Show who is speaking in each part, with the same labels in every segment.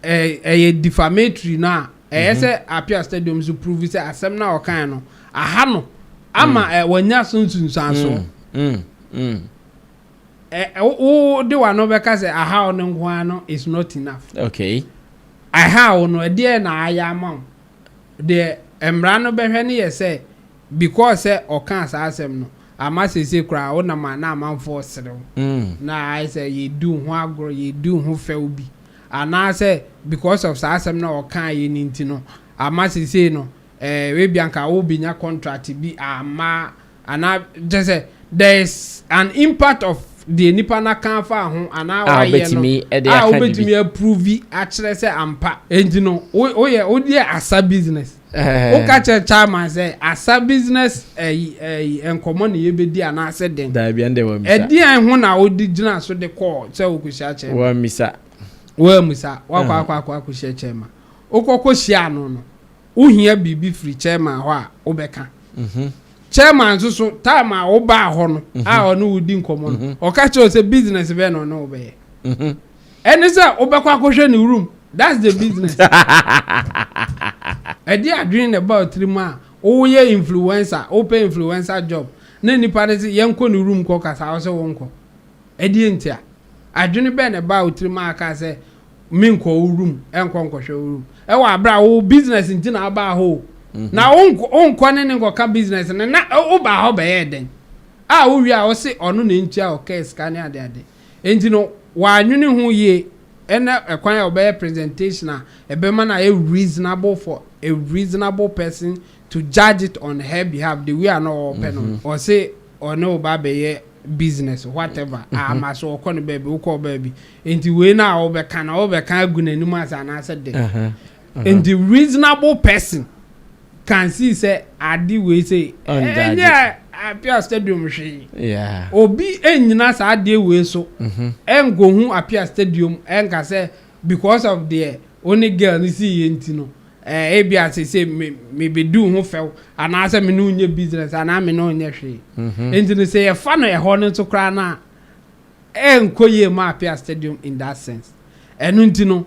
Speaker 1: Ɛyɛ defamatory no a, ɛyɛ sɛ Apia Stadium nso prove sɛ asɛm no a ɔkaeɛ no, aha no ama wanya so nsunsuansoɔ. Wode w'ano bɛka sɛ aha wo no nko ara no is not enough. Aha wo no, ɛdeɛn na ayɛ ama wo? Deɛ mmara no bɛhwɛ no yɛ sɛ because sɛ ɔkaa saa asɛm no, ama seesei koraa wonam a na amanfoɔ resere wo, na ayɛ sɛ yɛredi wo ho agorɔ, yɛredi wo ho fɛw bi. anaasɛ because of saa asɛm no a ɔkaeɛ no nti no ama seesei no eh, ebia nka wobɛnya contract bi amma anaa kyerɛ sɛ there is an impact of deɛ nipa no aka afa ho anaa A wayɛ no wobɛtumi de a aka biribi. wobɛtumi aprovi akyerɛ sɛ ampa enti no wo- woyɛ wodeɛ asa business. Woka kyerɛ chairman sɛ asa business ɛyi ɛyi nkɔmɔ na yɛbɛdi anaasɛ dɛn? Daabi ɛnde wɔammisa. Ɛdeɛn ho na wode gyina so de kɔɔ sɛ wokɔhyia chairman? Wɔammisa. Wɔammisa. Woakɔ akɔ akɔ akɔhyia chairman. Wokɔkɔ hyiaa no no, wohia biribi firi chairman hɔ a wobɛka. Chairman nso so time a wobaa hɔ no a ɔne wo di nkɔmɔ no, ɔka kyerɛɛ wo sɛ business bɛn na ɔne wo bɛyɛ? Ɛne sɛ wobɛkɔ akɔhwɛ ne room that's the business ɛdeɛ adwene na ɛba ɔtirim a woyɛ influencer wopɛ influencer job na nipa no se yɛnkɔ ne room kɔ kasa wose wonkɔ ɛdeɛ ntia adwene bɛn na ɛbaa wotirim a aka sɛ menkɔ wo room ɛnkɔ nkɔhwɛ wo room ɛwɔ aberɛ a wo business nti na abaa hɔ o na wonkɔ ne ne nkɔka business no na wobaa hɔ bɛyɛ dɛn a wowie a wose ɔno na ɛntua ɔkɛɛ sika ne adeade Enti no, w'anwene ho yie ɛna ɛkwan a ɔbɛyɛ presentation a ɛbɛma no ayɛ reasonable for a reasonable person to judge it on her behalf the way a na ɔɔpɛ no no. Ɔse ɔne wo ba bɛyɛ business whatever a ama so ɔkɔ ne baabi wokɔ wo baabi enti wei no a wobɛka no wobɛka agu n'anim ase anaasɛ dɛn? Nti reasonable person can see sɛ ade wei sei ɛnyɛ Apia stadium hwee. Yeah. Obi nnyina saa adeɛ wei so ɛnkɔhu mhm. Apia stadium ɛnka sɛ because of deɛ ɔne girl no si yɛ nti no ɛɛ ebi asese me mebɛdu ho fɛw anaasɛ me ne onyɛ business anaa me ne onyɛ hwee. Mhm. Nti no sɛ yɛfa no ɛhɔ no nso koraa no a ɛnkɔ yie ma Apia stadium in that sense. Ɛno nti no.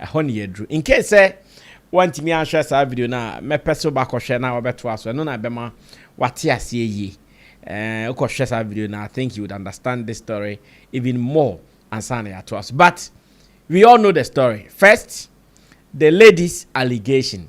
Speaker 1: Ɛhɔ na yɛaduru. In case sɛ woantumi anhwɛ saa video no a, mɛpɛ sɛ wobɛakɔhwɛ na wabɛtoa so. Ɛno na ɛbɛma wate aseɛ yie. Eh, wokɔhwɛ saa video no a, I think you would understand this story even more ansa na yɛatoa so. But we all know the story. First, the lady's allegation.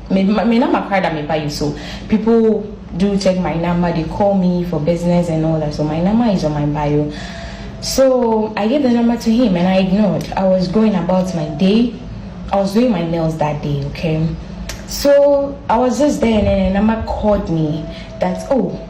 Speaker 1: Me me number koraa da me ba yi so people do check my number they call me for business and all that so my number is on my bio so I gave the number to him and I ignored I was going about my day I was doing my nails that day okay so I was just there and then the number called me that oh.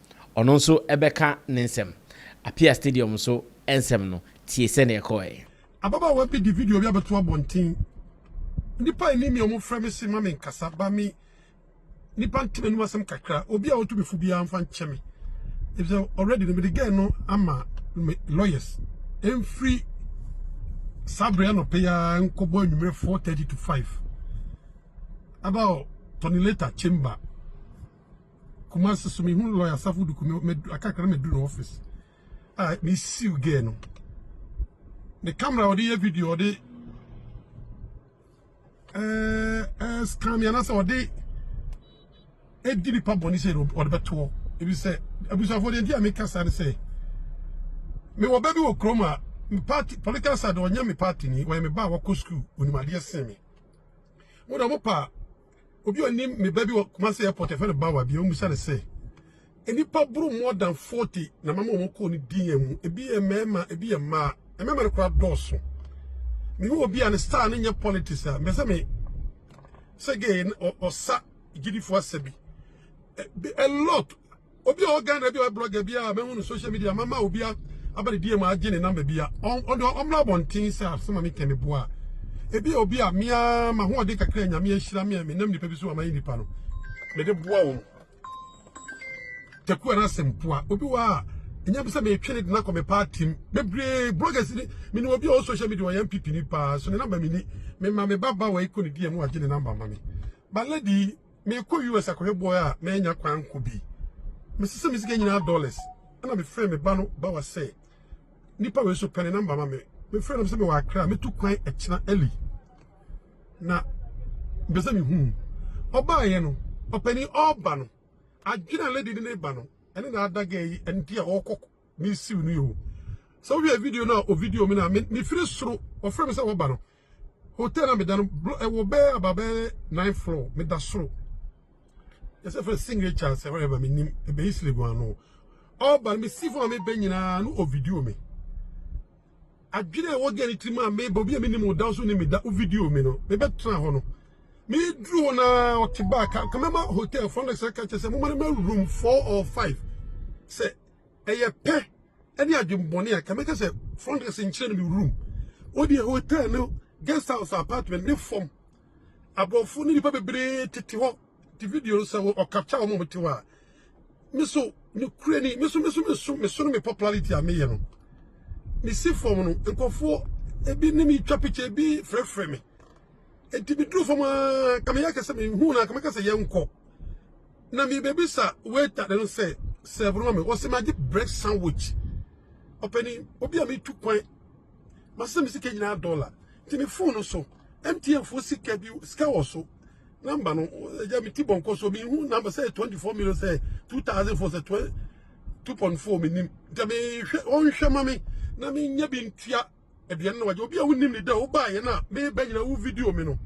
Speaker 1: Ɔno nso bɛka ne nsɛm. Apia Stadium nso nsɛm no, tie sɛnea ɛkɔe. Ababaawa bi de video bi abɛto abɔnten. Nnipa a ɛnim me a wɔfrɛ me se ma me nkasa ba me nnipa nte m'anim asɛm kakra. Obi a ɔtu me fo biara mfa nkyɛ me. Efisɛ already no mede girl no ama me lawyers. Ɛmfiri saa berɛ anɔpa yi ara nkɔbɔ anwummerɛ 4:30 to 5 about Tony Leta chamber. Kumasi so mehu lawyer Asafo Duku medu aka kakra medu ne office a ah, me siw girl no ne camera ɔde yɛ video ɔde ɛɛ eh, ɛɛ eh, scan mi anasɛ ɔde edi nipa bɔnni sɛ ɔde bɛtoɔ ebi sɛ abusuafo deɛ nti a mi kasa ne sɛ mi wɔ bɛ bi wɔ kurom a mi party political side ɔnyɛ mi party ni wɔyɛ mi ba a wɔkɔ sukuu onimadeɛ sen mi mo na mo pa. Obi onim me ba bi wɔ Kumasi airport ɛfɛ no bawa bi ɔmusa ne sɛ nnipa buru more than 40 na mama wɔn kɔɔ ne din mu ebi yɛ mmarima ebi yɛ mmaa mmarima no koraa dɔɔso me wɔ bi a ne star no nyɛ politics a mbɛsɛ me sɛ gay ɔsa gyidifo asa bi a lot Obi a ɔwɔ Ghana bi a ɔyɛ blogger bi a mahu no social media mama obi a aba ne DM agye ne number bi a ɔde ɔmmra abɔnten sɛ asɛm a meka me boa ebi a obi a mea mahoɔden kakra a nyame ahyira me a menam nipa bi so a mayɛ nipa no mede boa wɔn takuwa no asɛmpoa obi wɔ a ɛnya bi sɛ metwe ne de no akɔ me party m bebree bloggers ni mene obi a ɔwɔ social media ɔyɛ mpp ni paa so ne number meni mema me ba ba wɔ ɛkɔ ne DM agye ne number ma me ba lady Merekɔ US akɔhwɛ boy a mannya kwan ankɔ bi. Mesesee me sika nyinaa dollars, ɛnna mefrɛɛ me ba no bawa sɛ, Nipa wei so pɛ ne namba ma me. Mefrɛɛ no sɛ mewɔ Accra, metu kwan ɛkyena early, na mepɛ sɛ mehu wo. Ɔbaeɛ no, ɔpanin ɔreba no, adwene a lady no de reba no, ɛne na ada girl yi ɛne deɛ ɔrekɔ ne siw no yi o. Sɛ wohwɛ video no a ɔvideo me no a, mefiri soro, ɔfrɛ me sɛ waba no, Hotel na meda no ɛwɔ bɛyɛ aba bɛyɛ nine floor meda soro yɛsɛ fɛ signature sɛ whatever menim ɛbɛyi siligu ano ɔba no mesi fo a mebɛ nyinaa no ovidio me adwene a ɛwɔ gɛ ne tirim a mebɔ obi a menim wo da so ne meda ovidio me no mebɛtena hɔ no meduru hɔ na ɔte baa ka mɛma hotel front desk ka kyɛ sɛ moma no ma room four or five sɛ Ɛyɛ pɛ ne adwemmɔne a nka mɛka sɛ front desk nkyerɛ no me room. Wodeɛ hotel no guest house apartment ne fam. Aborɔfo ne nipa bebree tete hɔ te video no sɛ wɔ ɔkapcha wɔn a wɔte hɔ a. Me so ne kure ni me so me so me so me so no me popularity a meyɛ no. Me si fam no nkurɔfoɔ ebi ne me twa picture ebi frɛfrɛ me. Enti me duru fam a ka meyɛ kɛsɛ me hu na ka mɛka sɛ yɛnkɔ. na mebɛbisa waiter no sɛ serve no ma me ɔsɛ magye bread sandwich ɔpɛni obi a metu kwan masɛ me sika nyinaa dɔla nti me fon no so mtn fo sika bi sika wɔ so namba no ɛgya me ti bɔnkɔ so mehu namba sɛ 24 million sɛ 2000 fo sɛ 2.4 menim nti mehwɛ ɔnhwɛ ma me na menyɛ bi ntua aduane no wagye obi a wonim ne da wobaeɛ no a meba nyina wo video me no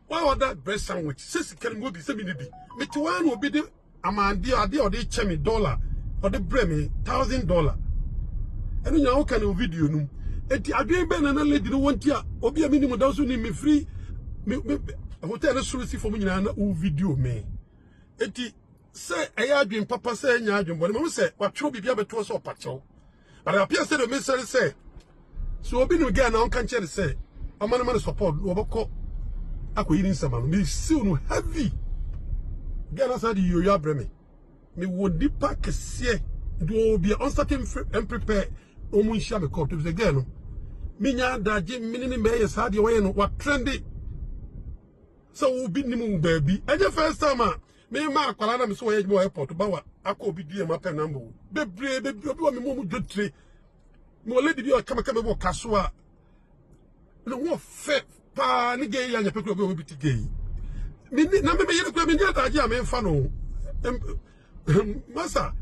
Speaker 1: Why all that bread sandwich? Sɛ sika no mewɔ bi sɛ mene bi. Mete waa na obi de amande ade a ɔde kyɛ me dollar ɔde brɛ me thousand dollar. Ɛno nyinaa woka ne video no mu. Enti adwene bɛn na na lady no wɔ nti a obi a menim da so nim me firi me hotel no soro si fam nyinaa na wo video me. Enti sɛ ɛyɛ adwene papa sɛ ɛnyɛ adwene bɔne ma wo sɛ watwerɛ biribi abɛtoɔ sɛ ɔpakyɛw. but it appears sɛ deɛ mesɛ ne sɛ sɛ obi nim girl na ɔnka nkyerɛ ne sɛ ɔma no ma no support na ɔbɛkɔ akɔyi ne nsɛm ano mesiw no heavy girl no asan de yoyo abrɛ me mewɔ nnipa kɛseɛ nti wɔwɔ bia ɔnsate mprepare wɔn nhyia me kɔm to sɛ girl no menya adagye mene ne mɛyɛ saa deɛ wɔyɛ no watrɛnde sɛ wobi nim wo baabi ɛnyɛ first time a Me ma akwadaa na me sɛ wɔyɛ adwuma wɔ airport ba wa akɔ obi dua mu apɛ namba o bebree bebree obi wɔ me mu mu dwotire me wɔ lady bi a ɔka me ka me wɔ ka so a ne ho fɛ paa ne gay yɛ anyɛ pɛ kura obi wɔ bi ti gay me ni na me me yere kura me ni adagye a me nfa no masa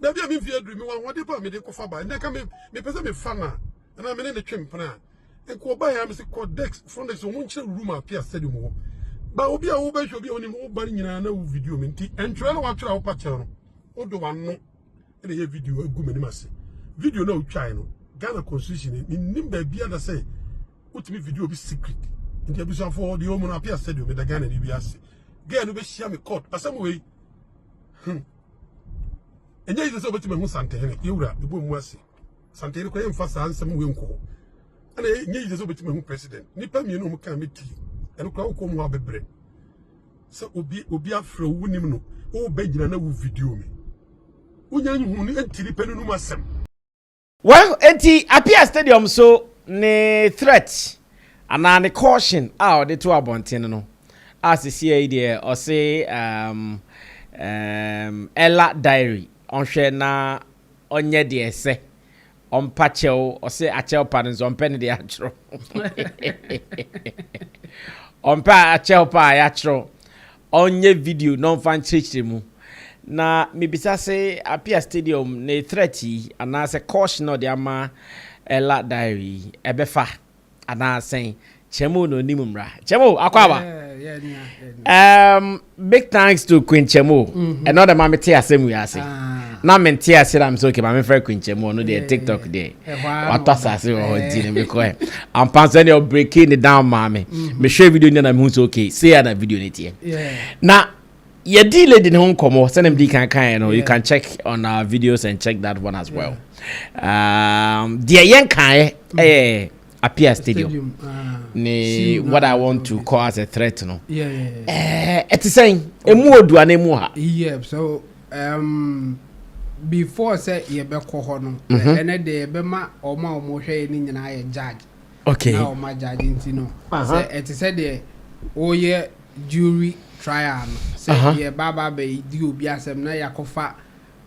Speaker 1: na bi a me mfi aduru me wɔ ahoɔden pa a me de kɔfa ba ɛnna ka me me pɛ sɛ me fa na ɛna me ne ne twe mpena ɛkɔ ɔba yɛ amesi kɔ dex front dex wɔn nkyerɛ room a pia stadium wɔ ba obi a wobɛhwɛ obi a onim woba no nyinaa na wo video mi nti ɛntwerɛ na watwerɛ a wopa kyɛw no wode wano ɛna yɛ video agu m'anim ase video na wotwae no Ghana constitution ni menim baabi ada sɛ wotumi video bi secret nti abusuafoɔ deɛ ɔmu no apia stadium meda Ghana ni bi ase gɛɛ no bɛhyia me court asɛm wei hmm ɛnyɛ yi sɛ wobɛtumi ahu santehene yɛwura ɛbɔ mu ase Santen no koraa yɛmfa saa nsɛm wei nkɔ hɔ. Ɛna ɛnyɛ yie sɛ wobɛtumi ahu president. Nnipa mmienu a wɔkaa metie. Ɛno koraa wokɔ mu a wobɛbrɛ. Sɛ obi obi afrɛ wo wonim no, wobɛgyina na wo video me. Wonya nhu no nti nipa no num asɛm. Well, enti Apia Stadium so ne threat anaa ne caution a ɔde to abɔnten no a sesia yi deɛ ɔse um, um, Ella Diary ɔnhwɛ na ɔnyɛ deɛ ɛsɛ ɔmpa kyɛw ɔse akyɛw pa no nso ɔmpɛ ne deɛ akyerɛw ɔmpɛ akyɛw pa a yɛakyerɛw ɔnyɛ video na ɔmfa nkyerɛkyerɛ mu na mebisa se apia stadium ne threat yi anaasɛ caution na ɔde ama ɛla diary yi ɛbɛfa anaa sɛn kyɛm o na onim mmara kyɛm o akɔ aba um, big thanks to queen kyɛm o mm-hmm. ɛnɔ dɛ ma me te asɛm wi ase ah. na me nte ase na me sɛ okay ma me fɛ queen kyɛm o no deɛ tiktok deɛ watɔ asase wɔ hɔ nti no mekɔ ɛ ampa sɛ deɛ ɔbreki ne down maa me mm-hmm. mehwɛ video nyɛ na mehu sɛ okay sei a na video ne teɛ na Yɛdii lady no ho nkɔmmɔ sɛdeɛ mede kan kaeɛ no you can check on our videos and check that one as well um, deɛ yɛnkaeɛ ɛyɛ appear stadium, stadium. Ah. ne what i want to call as a threat no ɛte sɛn ɛmu odua no ɛmu ha yeah, so, um, before sɛ yɛbɛkɔ hɔ no ɛnɛ deɛ yɛbɛma ɔma ɔmɔhwɛ yɛ no nyinaa yɛ judge okay. na wɔn agyagye nti no sɛ ɛte sɛ deɛ wɔyɛ jury trial no sɛ uh -huh. yɛba aba abɛdi obi asɛm na yɛakɔfa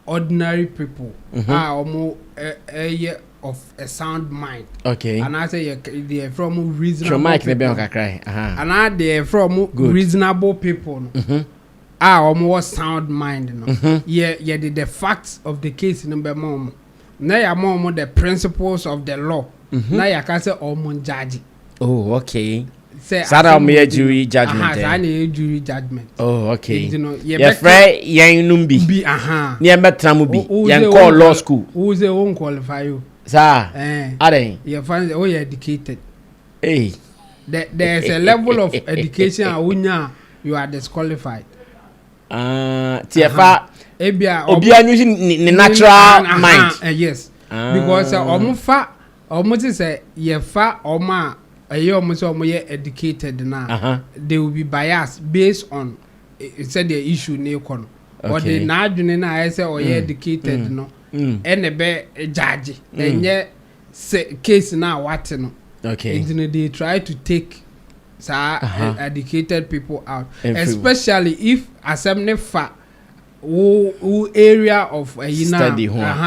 Speaker 1: ordinary people mm -hmm. a wɔn ɛyɛ of a sound mind okay. anaasɛ yɛ deɛ ɛfrɛ wɔn reasonable people anaa deɛ ɛfrɛ wɔn reasonable people no. Mm -hmm. a wɔn wɔ sound mind no mm-hmm. yɛ yɛde the facts of the case no bɛma wɔn. na yɛama wɔn the principles of the law na yɛaka sɛ wɔn njagye. oh okay sɛ saa na wɔn yɛ jury judgement aha saa na yɛ jury judgement oh okay nti no yɛfrɛ yɛn nom bi bi aha ne yɛn bɛ tena mu bi yɛn kɔ law school wo sɛ wo nkwalify o saa ɛn adɛn yɛfa sɛ woyɛ educated ee hey. there is a level of education a wonya you are disqualified. Ah, tiɛ fa. Uh-huh. Ebia obi anyu si ne natural uh-huh. mind. Uh, yes. Ah. Because ọmụ fa ọmụ ti sɛ yɛ fa ọmụ a ɛyɛ ọmụ sɛ ọmụ yɛ educated na. Uh-huh. They will be biased based on eh, sɛ deɛ issue ne kɔ no. Okay. Ɔde n'adwene na ayɛ sɛ ɔyɛ mm. educated mm. no. Mm. Ɛna ɛbɛ gyaagye. Ɛnyɛ. Mm. sɛ case no a wate no nti no they try to take saa educated people out especially if asɛm no fa wo wo area of ayi no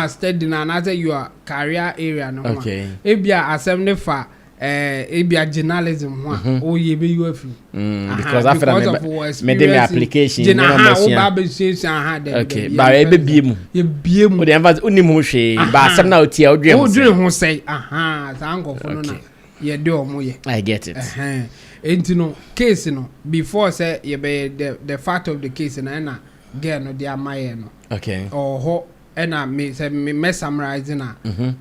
Speaker 1: a study no anaasɛ your career area no ho a ebia asɛm no fa eh, ebia journalism ho a woyɛ bɛyi afi mu Mm, because after that, me de me application. Jena ha, o ba be sue sue ha de. Okay, ba e be bie mu. Ye bie mu. O de emphasize o ni mu hwe. Ba asem na o tie o dream. O dream ho say. Aha, sa anko fo no na. Ye de omo ye. I get it. Eh. Enti no case no before say ye be the the fact of the case na na girl no de amaye no. Okay. Oho Ɛna me sɛ me mɛ summarise na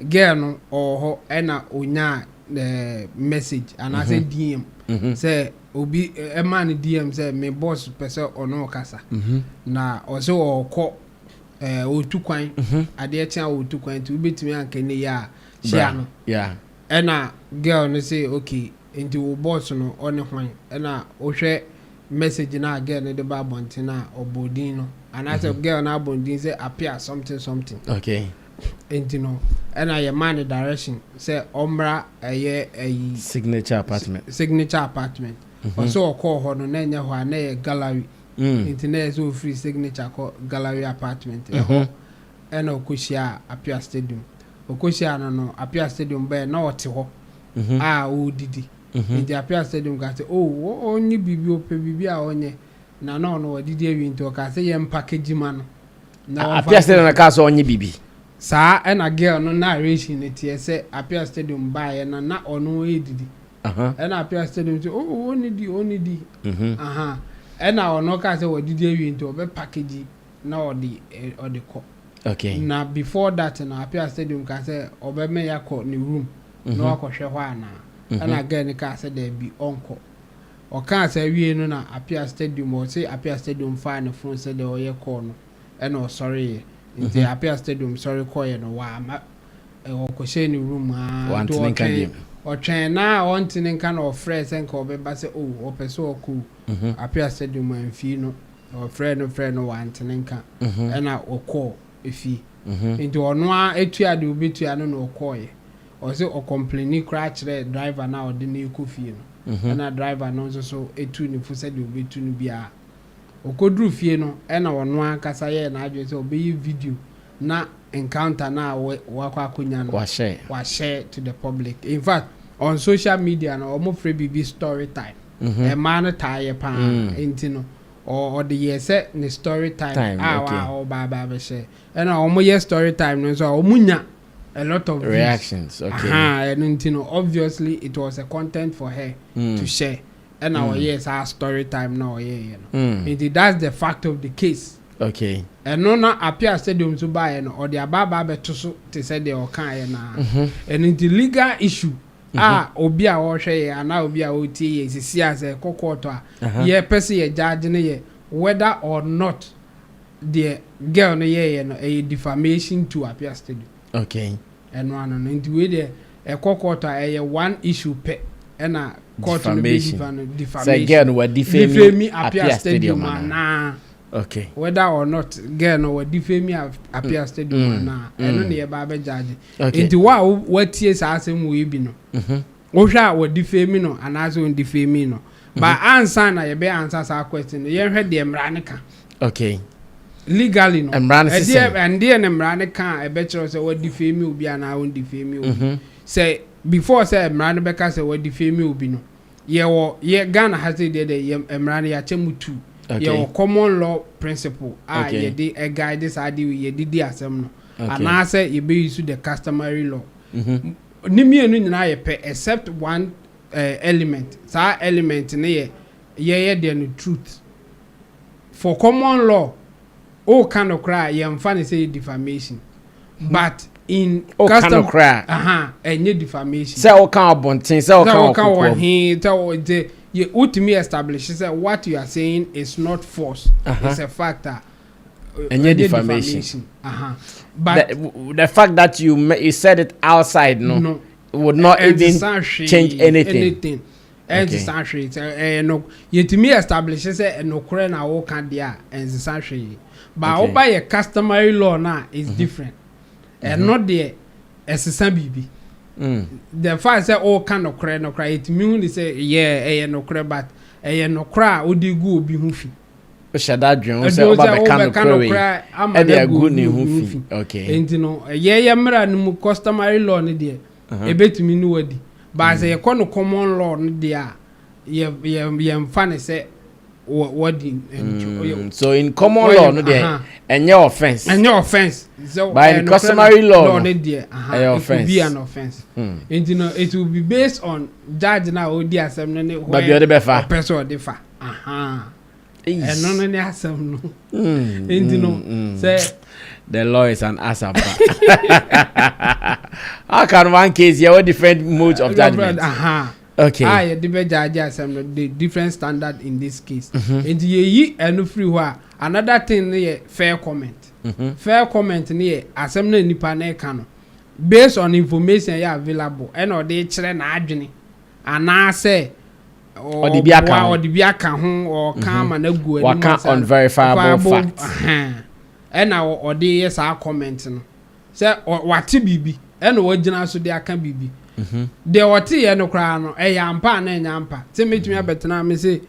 Speaker 1: girl no ɔwɔ hɔ ɛna onyaa ɛɛ message anaasɛ DM sɛ obi ɛmaa no DM sɛ me boss pɛ sɛ ɔne wo kasa na ɔsɛ ɔɔkɔ ɛɛ ɔretu kwan adeɛ kye a ɔretu kwan nti wobɛtumi anka ɛnɛ yi a hyia no Ɛna girl no se okay nti wo boss no ɔne hwan? Ɛna wohwɛ message no a girl no de ba abɔnten a ɔbɔ din no anaasɛ mhm. girl no abɔ ne din sɛ appear something something. Okay. Nti no ɛna yɛ maa no direction sɛ ɔmmra ɛyɛ ɛyi. Signature apartment. Signature apartment. Mhm. Ɔsɛ ɔkɔɔ hɔ no na ɛnyɛ hɔ a na ɛyɛ gallery. Mm. Nti na ɛsɛ ofiri signature kɔ gallery apartment. Ɛhɔ mhm. Ɛna ɔkɔhyiaa Apia Stadium. Ɔkɔhyiaa no no, Apia Stadium baeɛ, na ɔte hɔ a ɔredidi. Enti Apia Stadium kaa sɛ, Oh, wo, ɔnnye biribi, ɔpɛ biribi a ɔnyɛ. Na na ɔno wadidi awie nti ɔkaa sɛ, Yɛmpake gyima no na wɔmfa Apia Stadium nkɔsi. na kaa sɛ ɔnnye biribi. Saa ɛna girl no narration no teɛ sɛ Apia Stadium baeɛ na na ɔno redidi. Uh-huh. Ɛna Apia Stadium sɛ, Oh, ɔnnidi, ɔnnidi. Uh-huh. Ɛna ɔno kaa sɛ wadidi awie nti ɔbɛpake gyi. na ɔde ɔde kɔ. Okay. Na before that no Appiah Stadium kaa sɛ ɔbɛma yɛakɔ ne room na wakɔhwɛ hɔ anaa. Ɛna girl no kaa sɛ daabi ɔnkɔ. Ɔkaa saa wiei no na Appiah Stadium ɔse Appiah Stadium faa ne phone sɛdeɛ ɔyɛ call no ɛna ɔsɔreeɛ. Nti Appiah Stadium sɔre kɔeɛ no wamma ɔkɔhyɛɛ ne room aa nti Wantene nka ɔtwɛn biom. ɔtwɛn na ɔntene nka na ɔfrɛɛ sɛ nka ɔbɛba sɛ oh ɔpɛ sɛ ɔkɔ o. Appiah Stadium amfii no Na wɔfrɛɛ no frɛɛ no wante ne nka, ɛnna ɔkɔɔ efie. Enti ɔno ara tuaa deɛ ɔbɛtua no na ɔkɔeɛ. Ɔse ɔcomplaini koraa kyerɛɛ driver no a ɔde no rekɔ fie no, ɛnna driver no nso so tuu ne fo sɛdeɛ ɔbɛtu no biara. Ɔkɔduruu fie no, ɛnna ɔno ankasa yɛɛ n'adwene sɛ ɔbɛyɛ video na encounter no a wakɔ akɔnya no wahyɛ to the public. In fact, on social media no, wɔfrɛ biribi story time. mmaa no taa yɛ pa ara nti no ɔde yɛɛ sɛ ne story time a ɔba aba abɛhyɛ ɛna wɔn yɛ story time no nso a wɔn nya a lot of views reactions okay ahan ɛno nti no obviously it was a content for her mm. to share ɛna mm. ɔyɛ saa story time na ɔyɛ yɛ no mm. nti that's the fact of the case okay ɛno na apia stadium so baayɛ no ɔde aba aba abɛto so te sɛ deɛ ɔkaeɛ no a ɛno nti legal issue a obi a ɔrehwɛ yɛn anaa obi a ɔretie yɛn sisi a sɛ ɛkɔ kɔɔto a, yɛpɛ sɛ yɛ judge no yɛ whether or not deɛ girl no yɛɛyɛ no ɛyɛ defamation to appear studio. Okay. Ɛno ano no. Nti wei deɛ ɛkɔ kɔɔto a ɛyɛ one issue pɛ ɛna kɔɔto no bɛ difa no, defamation. Sɛ girl no wa defame appear studio anaa. Okay. Whether or not girl no wɔ different mi appear stadium mm. anaa mm. ɛno na yɛba abɛ judge. Okay. Nti wa watie saa asɛm wɔ ebi no. Mhm. Wohwɛ a wɔ different mi no anaasɛ wɔn different mi no. Mhm. Ba ansa na yɛbɛ ansa saa question no yɛnhwɛ deɛ mmara no ka. Okay. Legally no. Mmara no sisɛn. Ɛdeɛ ɛndeɛ ne mmara no ka a ɛbɛkyerɛw sɛ wɔ different mi obi anaa wɔn different mi obi. Mhm. Sɛ before sɛ mmara no bɛka sɛ wɔ different mi obi no. yɛwɔ yɛ Ghana ha sɛ deɛ deɛ yɛ mmara no yɛakyɛ mu tu. Okay. Yɛwɔ common law principle a Okay. yɛde ɛ guide saa de yɛde di asɛm no. Okay. Anaasɛ yɛbɛ use the customary law. M- Ne mmienu nyinaa yɛ pɛ except one eh, element. Saa element no yɛ yɛyɛ deɛ no truth. For common law woka nokorɛ a yɛnfa no sɛ yɛ defamation but in custom ɛnyɛ defamation sɛ woka abonten sɛ woka wɔkokoam sɛ woka wɔhe sɛ wotumi establish sɛ what you are saying is not false it's a fact a ɛnyɛ defamation but the fact that you, you said it outside no, no would not even change anything. anything. Ɛnsesa hwee sɛ ɛyɛ no yɛtumi establish sɛ nokorɛ na woka deɛ a ɛnsesa hwee but okay. woba yɛ customary law no a is mm -hmm. different mm-hmm. ɛno mm -hmm. deɛ ɛsesa biribi mm. the fact sɛ woka nokorɛ no koraa yɛtumi hu ne sɛ yɛ ɛyɛ nokorɛ but ɛyɛ nokorɛ a wode gu obi ho fi hyɛ da adwene ho sɛ ɔba bɛka nokorɛ wei ɛde agu ne ho fi okay. nti no ɛyɛ yɛ mmara no mu customary law no deɛ yɛbɛtumi ne wo adi. But sɛ yɛkɔ no common law no deɛ a, yɛ, yɛ, yɛmfa no sɛ wa, wadi ntu. Mm, yɛ- so in common wayɛ- law no deɛ aha. ɛnyɛ offence ɛnyɛ offense sɛ By ɛyɛ nokorɛ customary no, law law no, no deɛ aha, ɛyɛ it could offense. be an offense Hmm. nti no it will be based on judge no a ɔdi asɛm no ne Baabi a ɔde bɛfa. ɔpɛ sɛ ɔde fa aha ɛno no ne asɛm no mm, nti no mm, mm. sɛ the law is an asapa how can one case yɛwɔ different modes of judgment aha okay a ah, yɛde bɛgyaagye asɛm no the different standard in this case mhm. nti yɛyi ɛno firi hɔ a another thing no yɛ fair comment mhm. fair comment no yɛ asɛm no nipa no ɛka no based on information yɛ available ɛna ɔde kyerɛ n'adwene Anaasɛ ɔde bi aka ho. Ɔde bi aka ho, ɔka ama no agu anim. Waka unverifiable facts. Ɛna ɔde yɛ saa comment no. Sɛ wate biribi, ɛna wagyina so de aka biribi. Deɛ ɔteeɛ no koraa no, ɛyɛ ampa a na ɛnyɛ ampa. Sɛ mɛtumi abɛtena me se,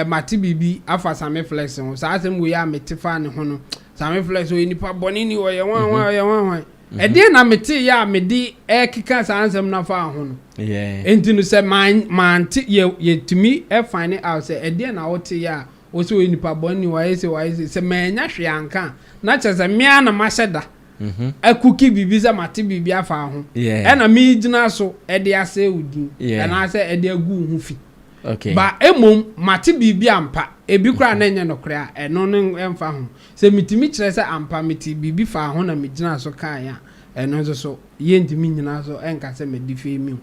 Speaker 1: mate biribi afa Same Flex ho. Saa asɛm wei a mete faa ne ho no, Same Flex ɔyɛ nipa bɔne ni, ɔyɛ hwan hwan, ɔyɛ hwan hwan. Ɛdeɛn na meteeɛ a mede rekeka saa nsɛm no afa ho no? Enti no sɛ mante, yɛtumi fane out sɛ ɛdeɛn na woteeɛ a wo sɛ ɔyɛ nipa bɔne ni, wayɛ sei, wayɛ sei. Sɛ mannya hwee anka a, na kyerɛ sɛ me ara na mahyɛ da akuki biribi sɛ mate biribi afa ho, ɛna megyina so de asɛe wo din anaasɛ de agu wo ho fi. Ba mmom mate biribi ampa, ebi koraa na ɛnyɛ nokorɛ a, ɛno no mfa ho. Sɛ mitumi kyerɛ sɛ ampa metee biribi faa ho na migyinaa so kae a, ɛno nso so, yentumi nnyina so nka sɛ madi fɛmiw.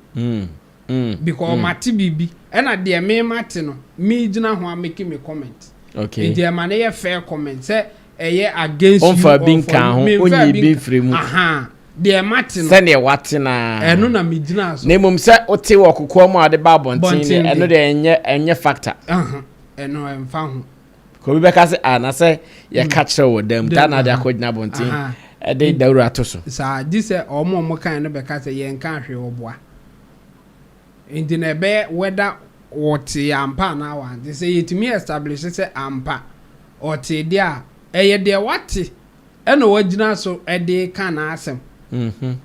Speaker 1: Because mate biribi, ɛnna deɛ meremate no, megyina ho amake me comment. Enti ɛma no yɛ fair comment, sɛ ɛyɛ against you or for you, memfaa bi nkaa ho. Ahaa, deɛ mate no. Sɛdeɛ wate no ara. Ɛno na megyinaa so. Na mmom sɛ wote wɔ kokoam a wode ba abɔnten deɛ, ɛno deɛ ɛnyɛ factor. Ɛno ɛmfa ho. ka obi bɛka sɛ ah na sɛ yɛka mm. kyerɛ wɔ dam taa na ade akɔgyina abɔnten ɛde mm. dawuro ato so. saa gye sɛ wɔn a wɔn kan no bɛka sɛ yɛn nka ahwɛ ɔboa nti na ɛbɛyɛ wɛda wɔte ampa anaa wɔante sɛ yɛtumi establish sɛ ampa ɔte deɛ a ɛyɛ deɛ wate. ɛna wagyina so de ka n'asɛm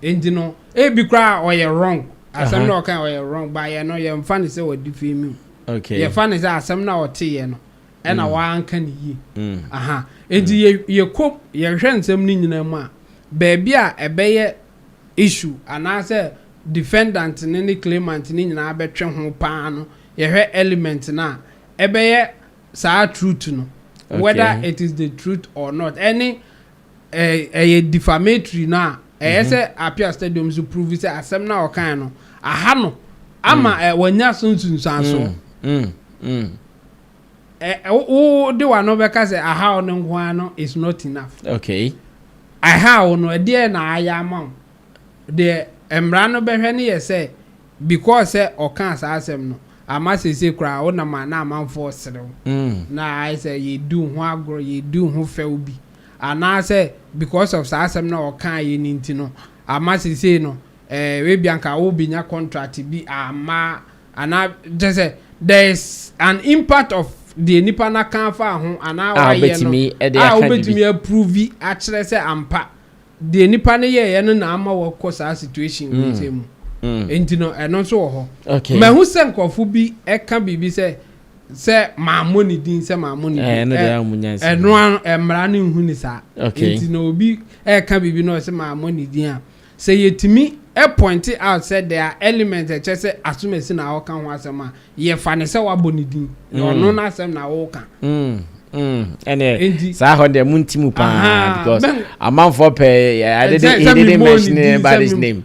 Speaker 1: nti no ebi koraa ɔyɛ wrong asɛm na ɔka ɔyɛ wrong ba yɛ no yɛmfa no sɛ wɔde fi mu yɛfa no sɛ asɛm na ɔteeɛ no ɛna mm. wanka ne yie mm. aha nti mm. yɛkɔm yɛhwɛ nsɛm no nyinaa mu a baabi a ɛbɛyɛ issue anaasɛ defendant ne ne claimant ne nyinaa bɛtwe ho paa no yɛhwɛ element no a ɛbɛyɛ saa truth no whether it is the truth or not ɛne ɛɛ ɛyɛ defamatory no a ɛyɛ sɛ Apia Stadium nso prove sɛ asɛm no a ɔkae no aha no ama ɛ wɔanya so nsunsuanso ɛ wo wo de w'ano bɛka sɛ aha wo no nko ara no is not enough okay aha wo no ɛdeɛ na ayɛ ama wo deɛ mmara no bɛhwɛ no yɛ sɛ Because sɛ ɔkaa saa asɛm no ama seesei koraa wonam a na amanfoɔ sere wo na ayɛ sɛ yɛredi wo ho agorɔ, yɛredi wo ho fɛw bi anaasɛ because of saa asɛm no a ɔkaeɛ no nti no ama seesei no eh ebia anka wobɛnya contract bi amma anaa kyerɛ sɛ there is an impact of deɛ nipa no aka afa ho anaa wayɛ no a wobɛtumi approve akyerɛ sɛ ampa Deɛ nipa no yɛɛyɛ no na ama wakɔ saa situation wei sɛ mu nti no ɛno nso wɔ hɔ. Mahu sɛ nkorɔfo bi ɛka biribi sɛ sɛ mammɔ ne din sɛ mammɔ ne din ɛ ɛno a mmara no nhu ne saa nti na obi ɛka biribi na ɔsɛ mammɔ ne din a sɛ yɛtumi ɛ point out sɛ there are elements ɛkyɛ sɛ asomasi na ɔka ho asɛm a Yɛfa no sɛ woabɔ ne din. Na ɔno n'asɛm na woka. ɛneɛ saa hɔ deɛ monti mu paa because amanfoɔ pɛ ade de he didn't mention about his name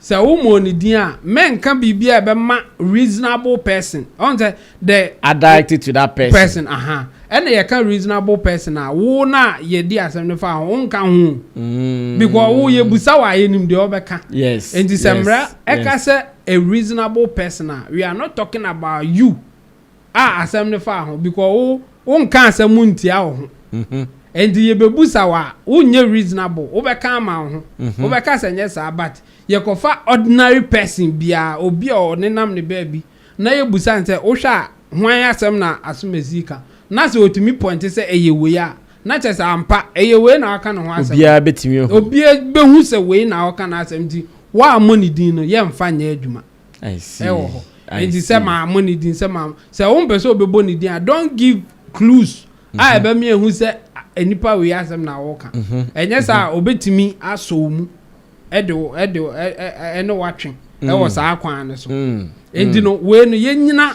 Speaker 1: sɛ womɔ ne din a mɛnka biribi a ɛbɛma reasonable person ɔn sɛ the addict to that person person aha ɛna yɛka reasonable person a wo na yɛdi asɛm no fa ho wonka ho mm. because wo yɛbusa wɔ ayɛ nim deɛ ɔbɛka yes nti sɛ mmara ɛka sɛ a reasonable person a, we are not talking about you a asɛm no faa ho because wo wo nka asɛm mu ntia wo ho. Ɛnti yɛbɛbusa wo a, wo nyɛ reasonable, wo bɛka ama wo ho, wo bɛka sɛ nyɛ saa but yɛ kɔ fa ordinary person biara, obi a ɔne nam ne baabi na yɛ busa no sɛ wo hwɛ a hwan asɛm na Asomasi ka? Na sɛ ɔtumi pointe sɛ ɛyɛ wei a, Na kyerɛ sɛ ampa ɛyɛ wei na ɔka ne ho asɛm. Obiara bɛtumi ahu. Obiara bɛhu sɛ wei na ɔka n'asɛm nti woammɔ ne din no yɛmfa nyɛ adwuma wɔ hɔ. Nti sɛ mammɔ ne din sɛ mammɔ sɛ wompɛ sɛ wobɛbɔ ne din a don't give clues a ɛbɛma yɛahu sɛ nipa wei asɛm na woka. Ɛnyɛ saa a ɔbɛtumi asɔ wo mu de wo de wo ɛne woatwe wɔ saa kwan no so. Nti no wei no yɛnyina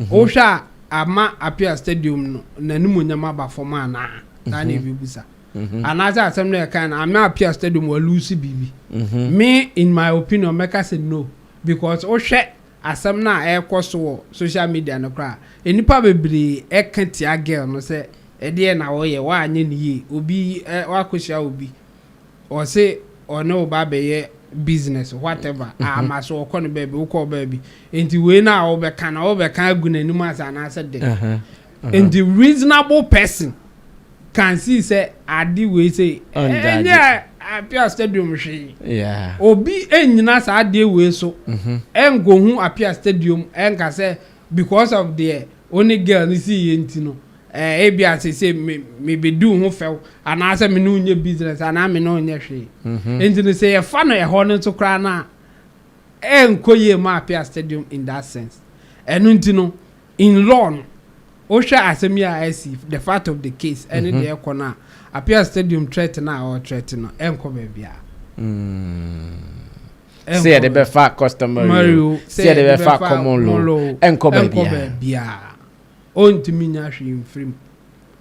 Speaker 1: Wohwɛ a, ama Apia Stadium no n'animuonyam aba fam anaa? Saa na yɛbɛbisa. Anaasɛ asɛm no a yɛkae no, ama Apia Stadium wɔaluuse biribi? Me, in my opinion, mɛka sɛ no. Because wohwɛ asɛm no a ɛrekɔ so wɔ social media no koraa a, nnipa bebree reka tia girl no sɛ, Ɛdeɛn na woyɛ? Woanyɛ no yie. Obi, woakɔhyia obi. Ɔse ɔne wo ba bɛyɛ business whatever ama so ɔkɔ no baabi wokɔ baabi nti wei na wobɛka na wobɛka agu n'anim asa anaasɛ dɛ nti reasonable person can see sɛ ade wei sɛ ɛnyɛ apia stadium hwee obi nyina saa adeɛ wei so ɛnkɔhu apia stadium ɛnka sɛ because of deɛ wo ne girl no sii yɛ nti no, eh, ebia seesei me, mebɛdi wo ho fɛw, anaasɛ me ne wo nyɛ business, anaa me ne wo nyɛ hwee. Mm-hmm. Enti no, sɛ yɛfa no ɛhɔ no nso koraa no a, ɛnkɔ yie ma Apia Stadium in that sense. Ɛno nti no, in law no, wohwɛ asɛm yi a asi, the fact of the case, ɛne mm-hmm. deɛ ɛkɔ no a, Apia Stadium threat no a ɔretrɛte no, ɛnkɔ baabiara. Mm. sɛ yɛde bɛfa customary o sɛ yɛde bɛfa common law o ɛnkɔ baabiara ɔntumi nya hwee mfiri mu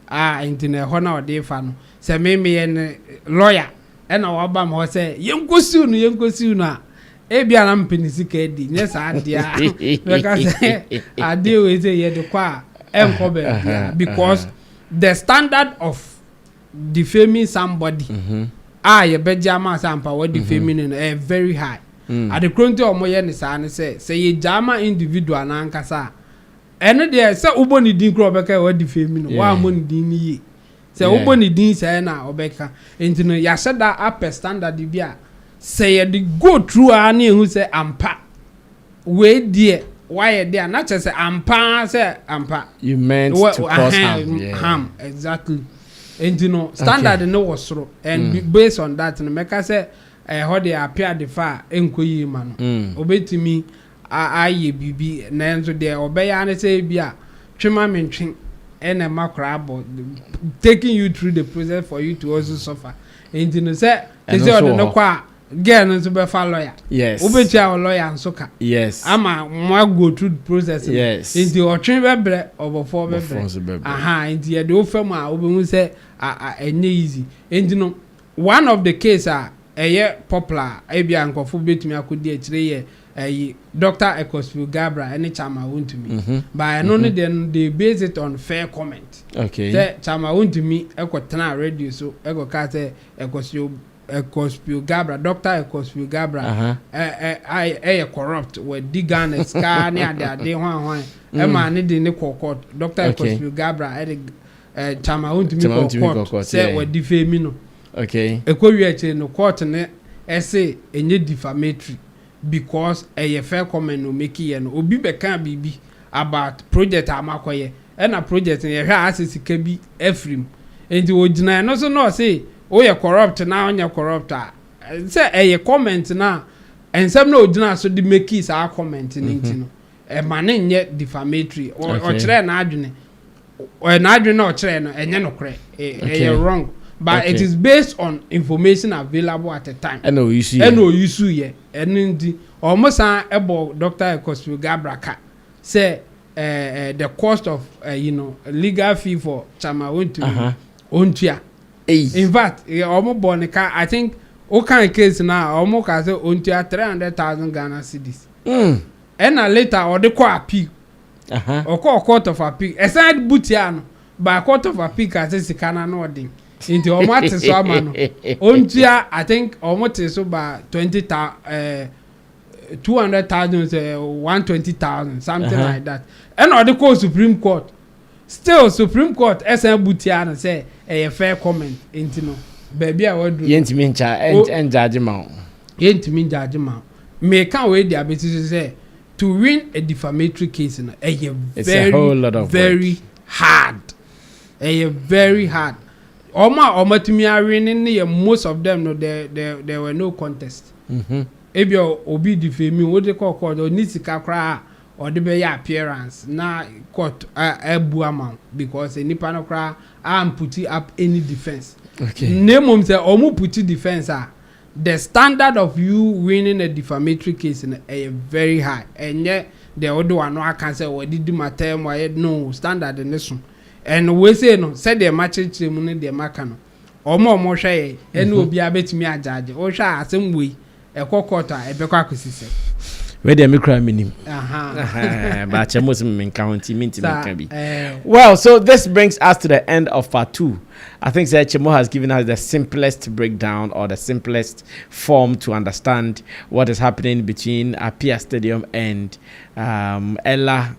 Speaker 1: a nti na ɛhɔ na ɔde fa no sɛ me meyɛ ne lawyer ɛna waba me hɔ sɛ yɛnkɔsiw no yɛnkɔsiw no a ebi a na mpɛ ne sika adi nyɛ saa adeɛ a bɛka sɛ adeɛ wei sɛ yɛde kɔ a ɛnkɔ baabiara because the standard of defaming somebody a yɛbɛgye ama sɛ ampa wɔ defaming no no ɛyɛ very high. Ade koro nti a wɔyɛ no saa ne sɛ, sɛ yɛgyaa ma individual no ankasa a, ɛno deɛ sɛ wobɔ ne din koraa a ɔbɛka sɛ wɔadefame no, woammɔ ne din no yie. Sɛ wobɔ ne din sɛɛ no a, ɔbɛka. Enti no, yɛahyɛ da apɛ standard bi a, sɛ yɛde go through ara na yɛhu sɛ ampa Wei deɛ wayɛ de a na kyerɛ sɛ ampa ara sɛ ampa. You meant Wɔ- to cause ahem, harm. Yeah. harm exactly nti no standard no wɔ soro and be- based on that no mɛka sɛ ɛhɔ deɛ apɛ adefa a ɛnkɔ yie ma no Mm. ɔbɛtumi a- ayɛ biribi nanso deɛ ɔbɛyɛ ara ne sɛ ebi a twe ma mentwe ɛna ɛma koraa abɔ taking you through the process for you to also suffer nti no sɛ Ɛno ɛsɛ nso ɔde wɔ no hɔ. kɔ a Girl no nso bɛfa lawyer. Yes. Wobɛtua wo lawyer nso ka. Yes. Ama mo a go through the process no. Yes. Nti ɔtwe bɛbrɛ ɔbɔfoɔ bɛbrɛ. Ɔbɔfoɔ nso bɛbrɛ. Aha nti yɛde wo fa mu a wobɛhu sɛ a a ɛnyɛ easy. Nti no one of the case a ɛyɛ popular a ebi a nkurɔfoɔ bɛtumi akɔdi akyire yɛ ɛyi Doctor Ecclesfield Gabriel ɛne Chama Wontumi. Mhm. Ba ɛno no mhm. deɛ no they base it on fair comment. Okay. Sɛ Chama Wontumi ɛkɔ tena radio so ɛkɔ kaa sɛ Ecclesfield Ecospio Gabra, Doctor Ecospio Gabra, a yɛ corrupt, wadi Ghana sika ne ade ade hwan hwan, ɛma ne de ne kɔ court, Doctor Ecospio Gabra ɛde Chama ontumi kɔ court sɛ wadi fame no. Ɛkɔ wie akyire no court no ɛse ɛnyɛ defamatory because ɛyɛ fair comment na ɔmake yɛ no, obi bɛkaa biribi about project a makɔyɛ, ɛna project no yɛhwɛ a asɛ sika bi afiri mu, nti ɔgyina ɛno so na ɔse Woyɛ corrupt na ɔnyɛ corrupt a, sɛ ɛyɛ comment no a, nsɛm no a ogyinaa so de makii saa comment no nti no, ɛma no nyɛ defamatory. Ɔ- Okay. Ɔkyerɛɛ n'adwene. Ɔ- N'adwene no a ɔkyerɛɛ no, ɛnyɛ nokorɛ. Ɛ- Okay. Ɛyɛ wrong. But it Okay. is based on information available at the time. Ɛna oyi so yɛ. ɛna oyi so yɛ ɛno nti wɔn san bɔ dr ekosue gabra ka sɛ ɛɛ ɛɛ the cost of ɛyi no legal fee for chama Aha. ontumi ontua Ei. In fact, wɔn bɔɔ no ka, I think wokan case no a, wɔn kaa sɛ ɔntua three hundred thousand Ghana cedis. Mm. Ɛna later ɔde kɔ appeal. Aha. Ɔkɔɔ court of appeal. Ɛsan bu tiaa no, but court of appeal kaa sɛ sika no ano ɔden. Nti wɔn ate so ama no. Ɔntua, I think wɔn tee so ba twenty ta eh, two hundred thousand sɛ one twenty thousand something Aha. like that. Ɛna ɔde kɔɔ Supreme Court. Still supreme court san bu tiaa no sɛ ɛyɛ fair comment nti no baabi a waduru no. Yɛntumi nkyɛ ɛngyagye ma wo. Yɛntumi ngyagye ma wo. Meka wei de abɛsi so sɛ to win a defamatory case no ɛyɛ very very hard. Ɛyɛ very hard. Wɔn a wɔatumi awene no yɛ most of them no there there there were no contest. Mm-hmm. Ebia obi defame wo de kɔ court ɔni sika koraa Ɔde bɛyɛ appearance na court abu ama wo because sɛ nipa no koraa an puti up any defence na mmom sɛ ɔmo puti defence a the standard of you winning a defamatory case no ɛyɛ very high ɛnyɛ deɛ wode w'ano aka sɛ wɔde di m'ataa mu ayɛ no standard no so and wei sei no sɛdeɛ makyerekyerɛ mu no deɛ maka no Wɔn a wɔhwɛ yɛn ɛne mhm. obiara bɛtumi agyaagye. Wohwɛ a asɛm wei ɛkɔ kɔɔto a ɛbɛkɔ akɔsi sɛ. Wei deɛ me kura me nim. Baakyɛ mo sɛ me nka ho nti me nti me nka bi. Eh. Well, so this brings us to the end of part two. I think Sir Chemo has given us the simplest breakdown or the simplest form to understand what is happening between Apia Stadium and um, Ella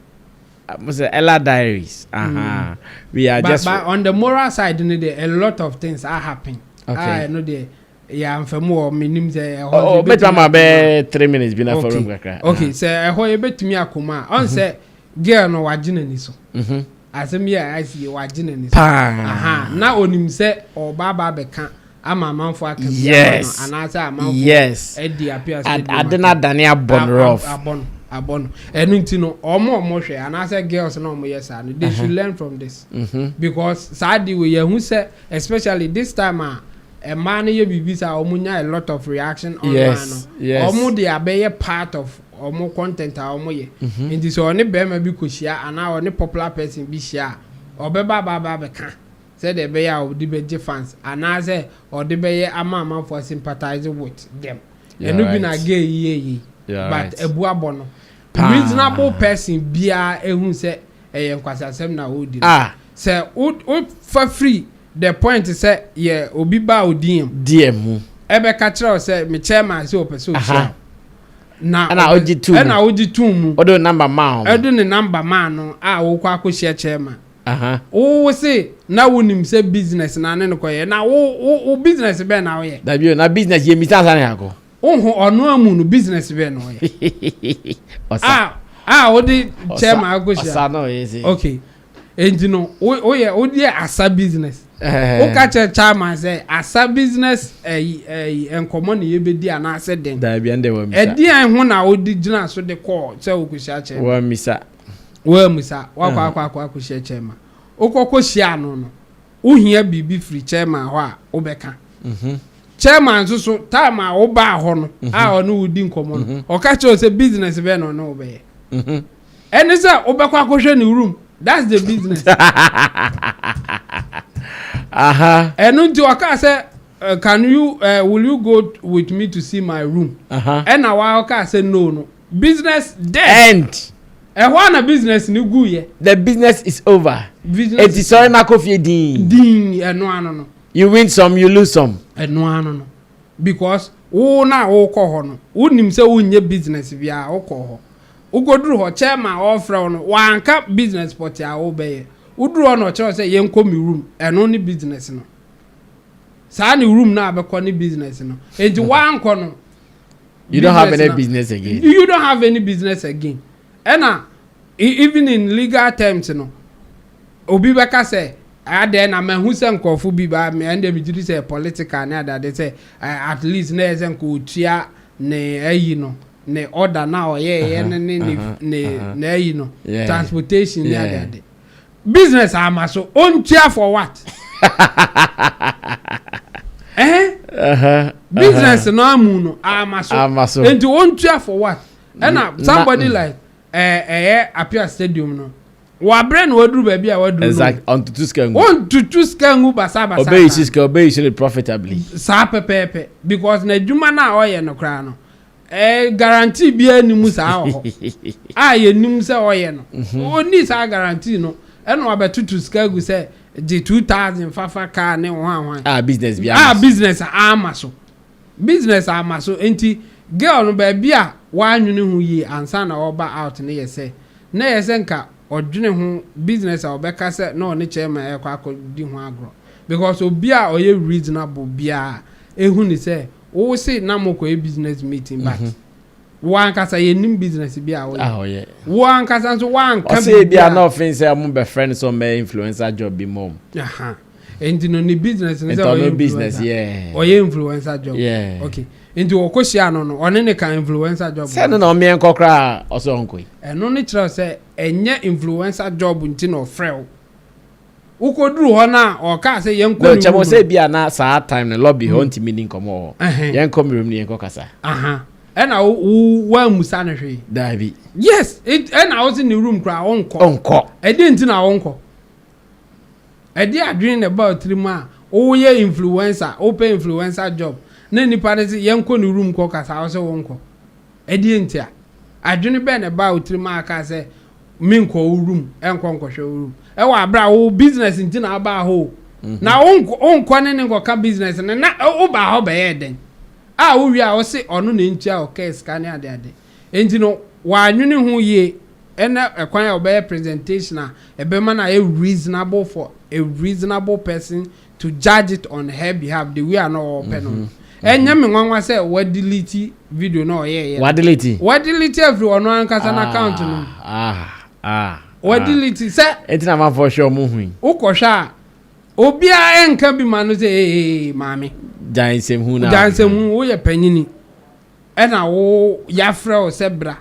Speaker 1: Mo sɛ Ella diaries ahaa we are just. But but on the moral side no deɛ a lot of things a happen a ɛno deɛ yɛ anfɛmu wɔ me nim sɛ ɛhɔ. Oh bɛtumi ama bɛ three minutes bi na fɔlɔ mu kakra. Okay sɛ ɛhɔ yɛ bɛtumi akɔ mu a ɔn sɛ girl no wagye n'ani so. Asɛm yi a ɛsi yɛ wagye n'ani so. Paa. Aha na onim sɛ ɔba aba abɛka. ama amanfo aka bi ama no anaasɛ amanfo adi apia sɛ ɛdi ade no adane abɔ no rough abɔ no abɔ no ɛno nti no ɔmo ɔmo hwɛ anaasɛ girls na ɔmo yɛ saa no they should learn from this mm-hmm. because saa de wei yɛhu sɛ especially this time a mmaa no yɛ biribi saa ɔmo nya a lot of reaction online no ɔmo de abɛyɛ part of ɔmo content a ɔmo yɛ mm-hmm. nti sɛ ɔne bɛrima bi kɔ hyia anaa ɔne popular person bi hyia a ɔbɛba aba aba abɛka. sɛdeɛ ɛbɛyɛ a ɔde bɛgye fans anaasɛ ɔde bɛyɛ ama amanfoɔ sympathize with them ɛno bi na gay yi yɛ yei but abu abɔ no reasonable person biara ɛhu sɛ ɛyɛ nkwasiasɛm na ɔredi no sɛ wofa firi the point sɛ yɛ obi ba wo deɛ mu ɛbɛka kyerɛ wo sɛ me chairman sɛ ɔpɛ sɛ ɔhyia wo na ɛna wogye tum mu ɛna wogye tum mu ɔde ne number maa no a wokɔ akɔhyia chairman Aha. Wo wo se na wo nim sɛ business na ne no kɔ yɛ na wo wo wo business bɛn na wo yɛ. Dabi o na business yɛ misa ansa na yɛakɔ. Wo ho ɔno amu no business bɛn na wo yɛ. Ɔsa. Ah ah wo de chairman akɔ hyia. Ɔsa na ɔyɛ se. Okay enti no wo wo yɛ wo deɛ asa business. Ɛhɛhɛ. Wo ka kyerɛ chairman sɛ asa business ɛyi ɛyi nkɔmɔ na yɛ bɛ di anaa sɛ dɛn. Dabi ɛnde wa misa. Ɛdeɛn ho na wo de gyina so de kɔɔ sɛ wo kɔ hyia chairman. Wa misa Woammisa, woakɔ akɔ akɔ akɔhyia chairman. Wokɔkɔ hyiaa no no, wohia biribi firi chairman hɔ a wobɛka. Chairman nso so, time a wobaa hɔ no a ɔne wo di nkɔmmɔ no, ɔka kyerɛ wo sɛ business bɛn na ɔne wo bɛyɛ. Ɛne sɛ wobɛkɔ akɔhwɛ ne room, that's the business. Aha. Ɛno nti ɔkaa sɛ, can you, uh, will you go with me to see my room? Aha. Ɛna wa ɔkaa sɛ no no. Business dead. End. Ɛhɔ ara na business no guiɛ. The business is over. Business Eti sɔre na kɔ fie dinn. Dinn, ɛno ano no. You win some, you lose some. Ɛno ano no. Because wo na wokɔ hɔ no, wonim sɛ wonyɛ business biara, wokɔ hɔ. Wokɔduru hɔ, chairman a ɔrefrɛ wo no, wanka business pɔtee a wobɛyɛ. Woduru hɔ na ɔkyerɛ wo sɛ yɛnkɔ me room, ɛno ne business no. Saa ne room no a bɛkɔ ne business no. Enti woankɔ no, you don't have any business again you don't have any business again ɛna even in legal terms no obi bɛka sɛ adɛn na mahu sɛ nkurɔfo bi ba ɛnde megye di sɛ political ne adade sɛ at least na ɛyɛ sɛ nka ɔtua ne ayi no ne order na ɔyɛɛyɛ no ne ne ayi no transportation ne adade business ama so ɔntua for what ɛhɛn business no amu no ama so ama so nti ɔntua for what ɛna somebody like ɛɛ ɛyɛ apia stadium no wabrɛ na waduru baabi a waduru no exact ɔntutu sika ngu ɔntutu sika ngu basabasa ɔbɛyi si sika ɔbɛyi si no profitably saa pɛpɛɛpɛ because n'adwuma no a ɔyɛ no koraa no Ɛɛ guarantee biara nni mu saa wɔ hɔ a yɛnim sɛ ɔyɛ no. Ɔnni mhm. saa guarantee no. Ɛna wabɛtoto sika gu sɛ gye two thousand fafa kaa ne ho ahoan. A business bi ama so. A business ama so. Business ama so. Nti girl no baabi a wɔanwene ho yie ansa na ɔba out no yɛ sɛ na yɛ sɛ nka ɔdwene ho business a ɔbɛka sɛ na ɔne chairman ɛkɔ akɔdi ho agorɔ because obi a ɔyɛ reasonable biara ehu ne sɛ Wo se na mo kɔyɛ business meeting but wo ankasa yɛ nim business bi a ɔyɛ. Ah ɔyɛ. Wo ankasa nso wa nka bi. Ɔsɛ ebi a na ɔfin sɛ ɔmo bɛ friend sɛ ɔmo bɛ influencer job bi mom. Aha. Nti no ne business ne sɛ ɔyɛ business yeah. Ɔyɛ influencer job. Yeah. Okay. Nti ɔkɔ hyia no no ɔne ne ka influencer job. Sɛ no na ɔmeɛ nkɔ koraa ɔsɛ ɔnkɔ yi. Ɛno ne kyerɛ sɛ ɛnyɛ influencer job nti na ɔfrɛ wo. Wokoduru hɔ no a, ɔkaa sɛ yɛnkɔ ne room no. Kyɛ mo sɛ ebi a na saa time no lobby hɔ ntumi ni nkɔmmɔ wɔ hɔ. Yɛnkɔ me room no yɛnkɔ kasa. Ɛna wo woammusa no hwee. Daabi. Yes, ɛna wo se ne room koraa ɔnkɔ. Ɔnkɔ. Ɛdeɛ nti na ɔnkɔ? Ɛdeɛ adwene na ɛba otiri mu a, woyɛ influencer, wopɛ influencer job, na nipa no se yɛnkɔ ne room nkɔ kasa, wo se wonkɔ. Ɛdeɛn nti a? Adwene bɛn na ɛbaa wo tirim a wokaa sɛ, Menkɔ wo room nkɔ nkɔhwɛ wo room? Ɛwɔ aberɛ a wo business nti na wobaa hɔ o. Na wonkɔ ne ne nkɔka business no, na wobaa hɔ bɛyɛɛ dɛn? A wowie a wose ɔno na ɛntua wo kaa sika ne adeade. Enti no wannwene ho yie ne ɛkwan a ɔbɛyɛ presentation a ɛbɛma no ayɛ reasonable for a reasonable person to judge it on her behalf the way a na ɔpɛ no no ɛnyɛ me nwanwa sɛ wadelete video na ɔyɛɛyɛ no. Wadelete? Wadelete afiri ɔno ankasa no account no mu. Ah, ah, Wadelete ah. sɛ. Eti na amanfoɔ hwɛ ɔmo hui. Wokɔhwɛ a obiara nka bi ma no sɛ ee maame. Gyae nsɛmhu na. Gyae nsɛmhu woyɛ panyini. ɛna wo yafrɛ wo sɛ bra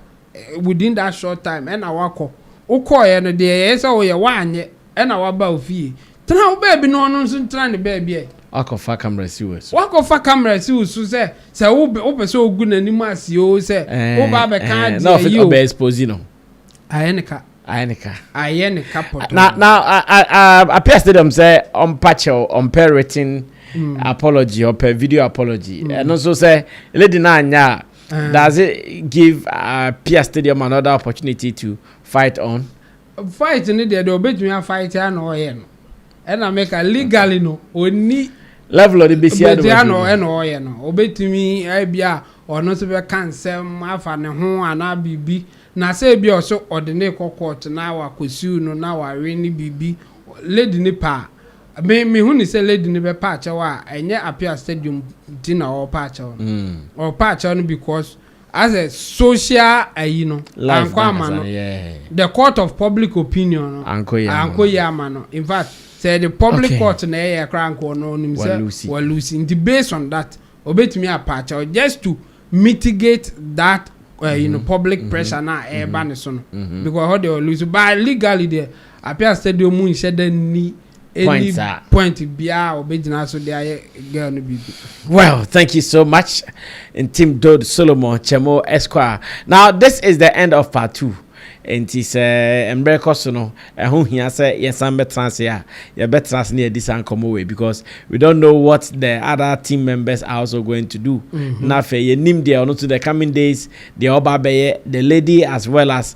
Speaker 1: within that short time ɛna wakɔ wo kɔɔyɛ no deɛ ɛyɛ sɛ woyɛ woanyɛ ɛna waba wo fie tena wo baabi na ɔno nso ntena ne baabi ɛ. Wakɔ fa camera si wo so. Wakɔ fa camera si wo so sɛ sɛ wo pɛ sɛ ogu n'anim ase oo sɛ wo ba abɛka adeɛ yi oo. Ɛɛ na ɔbɛ expose no. Ayɛ ne ka. Ayɛ ne ka. Ayɛ ne ka pɔtɔ. Na na appear stadium sɛ ɔmpa kyɛw ɔmpɛ written mm. apology ɔpɛ video apology. Mm. Ɛno nso sɛ lady na anya a ah. does it give appear stadium another opportunity to fight on? Fight ne deɛ deɛ ɔbɛtumi afight a na ɔyɛ no. ɛna meka legally no ɔnni level ɔde bɛsi ade bɛtia no ɛna ɔyɛ no ɔbɛtumi ebi a ɔno nso bɛka nsɛm afa ne ho anaa biribi na sɛ ebi a ɔso ɔde ne kɔ court na wakɔsiw no na wawe ne biribi lady ne paa me me hu ne sɛ lady ne bɛpa akyɛw a ɛnyɛ apia stadium ti na ɔrepa akyɛw no ɔrepa akyɛw no because Asɛ social ayi no ankɔ ama no the court of public opinion no ankɔ yie ama no infact sɛ yɛde public court na ɛyɛ koraa anka ɔno ɔnim sɛ wa lose nti based on that ɔbɛtumi apa akyɛw just to mitigate that ayi no public pressure no a ɛreba ne so no because ɛhɔ deɛ wa lose but legally deɛ appeal stadium mu nhyɛ da nni any point biara a ɔbɛgyina so de ayɛ girl no biribi. well thank you so much ntim dod solomon kyɛmo esquire now this is the end of part two nti sɛ mmerɛ kɔ so no ɛho hia sɛ yɛsan bɛtena ase a yɛbɛtena ase ne yɛdi saa nkɔmmɔ wei because we don't know what the other team members are also going to do mm-hmm. na afei yɛnim deɛ ɔno nso the coming days deɛ ɔba bɛyɛ the lady as well as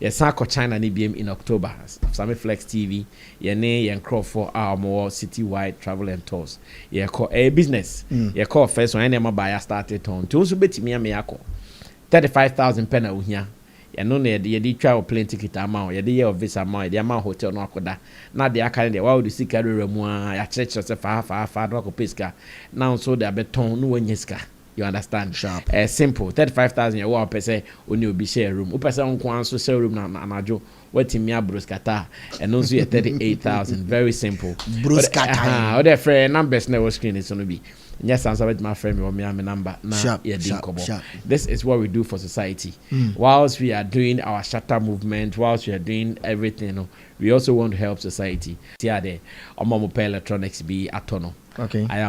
Speaker 1: Yɛsan kɔ China no biam in October, Same Flex TV, yɛne yɛn nkorɔfoɔ a wɔn wɔ City Wide Travel and Tours yɛkɔ, ɛyɛ business, yɛkɔɔ first one, yɛn nneɛma baa yɛ starte tɔn, nti wo nso bɛtumi ame akɔ, thirty five thousand pɛ na ohia, ɛno na yɛde yɛde twa wo plane ticket ama wo, yɛde yɛ wo visa ama wo, yɛde ama wo hotel na wakɔ da, na deɛ aka no deɛ wawode sika awurawura mu aa, yɛakyerɛkyerɛ wo sɛ fa ha fa ha fa ha na wakɔ pɛ sika, na wo nso wode abɛtɔn na wanya sika. You understand? Sharp. Ɛyɛ simple, thirty five thousand yɛ wo a wopɛ sɛ wo ne obi share room. Wopɛ sɛ wo nko ara nso share room na anadwo woatumi abroskata a, ɛno nso yɛ thirty eight thousand. Very simple. Broskata Ɛhã, yi. wode frɛ yɛn numbers na ɛwɔ screen no so no bi. Nyɛ saa nso a, wobɛtumi afrɛ me wɔ me ara me number na Sharp, yɛadi sharp, nkɔmmɔ. sharp. This is what we do for society. Whilst we are doing our shatter movement, whilst we are doing everything no, we also want to help society. Tia dɛ ɔma wɔpɛ electronics bi atɔ no. Okay. Ayɛ a.